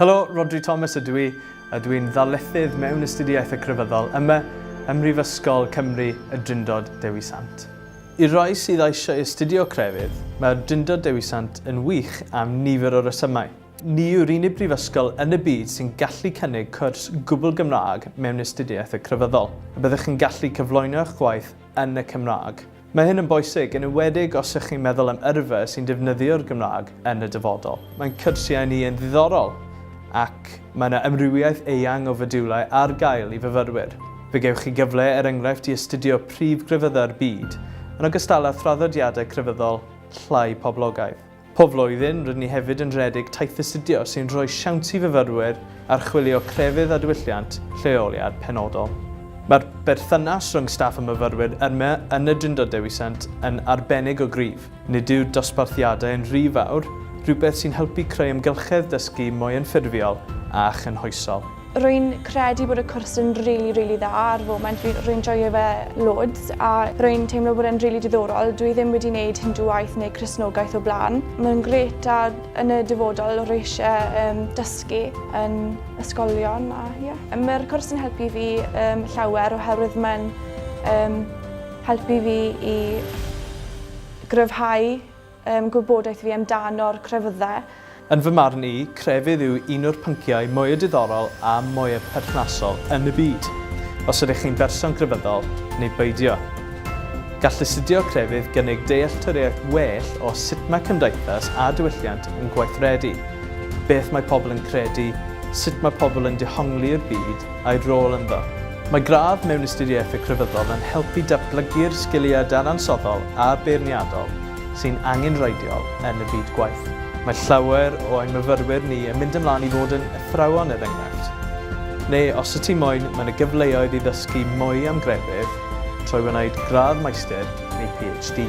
Helo, Rhodri Thomas ydw i, a dw i'n ddarlithydd mewn Astudiaethau Crefyddol yma ym Mhrifysgol Cymru y Drindod Dewi Sant. I'r rhai sydd eisiau astudio crefydd, mae'r Drindod Dewi Sant yn wych am nifer o resymau. Ni yw'r unig brifysgol yn y byd sy'n gallu cynnig cwrs gwbl Gymraeg mewn Astudiaethau Crefyddol, a byddwch yn gallu cyflwyno eich gwaith yn y Cymraeg. Mae hyn yn bwysig, yn enwedig os ych chi'n meddwl am yrfa sy'n defnyddio'r Gymraeg yn y dyfodol. Mae'n cyrsiau ni yn ddiddorol ac mae yna amrywiaeth eang o fodiwlau ar gael i fyfyrwyr. Fe gewch chi gyfle, er enghraifft, i astudio prif grefyddau'r byd, yn ogystal â thraddodiadau crefyddol llai poblogaidd. Pob blwyddyn, rydyn ni hefyd yn rhedeg taith astudio sy'n rhoi siawns i fyfyrwyr archwilio crefydd a diwylliant lleoliad penodol. Mae'r berthynas rhwng staff a myfyrwyr yma yn y Drindod Dewi Sant yn arbennig o gryf. Nid yw dosbarthiadau yn rhy fawr, rhywbeth sy'n helpu creu amgylchedd dysgu mwy anffurfiol a chynhwysol. Rwy'n credu bod y cwrs yn rili, rili dda ar y foment. Rwy- Rwy'n joio fe loads a rwy'n teimlo bod e'n rili diddorol. Dwi ddim wedi wneud Hindŵaeth neu Cristnogaeth o blaen. Mae'n grêt a yn y dyfodol rwy eisiau um, dysgu yn ysgolion a ie. Mae'r cwrs yn helpu fi um, llawer oherwydd mae'n um, helpu fi i gryfhau Ym gwybodaeth fi amdano'r crefyddau. Yn fy marn i, crefydd yw un o'r pynciau mwya diddorol a mwya perthnasol yn y byd, os ydych chi'n berson grefyddol neu beidio. Gall astudio crefydd gynnig dealltwriaeth well o sut mae cymdeithas a diwylliant yn gweithredu, beth mae pobl yn credu, sut mae pobl yn dehongli i'r byd, a'i rôl ynddo. Mae gradd mewn Ystyriaeth y Crefyddol yn helpu datblygu'r sgiliau dadansoddol a beirniadol sy'n angenrheidiol yn y byd gwaith. Mae llawer o ein myfyrwyr ni yn mynd ymlaen i fod yn athrawon er enghraifft. Neu os yti moyn, mae 'na gyfleoedd i ddysgu mwy am grefydd trwy wneud gradd Maestir neu PhD.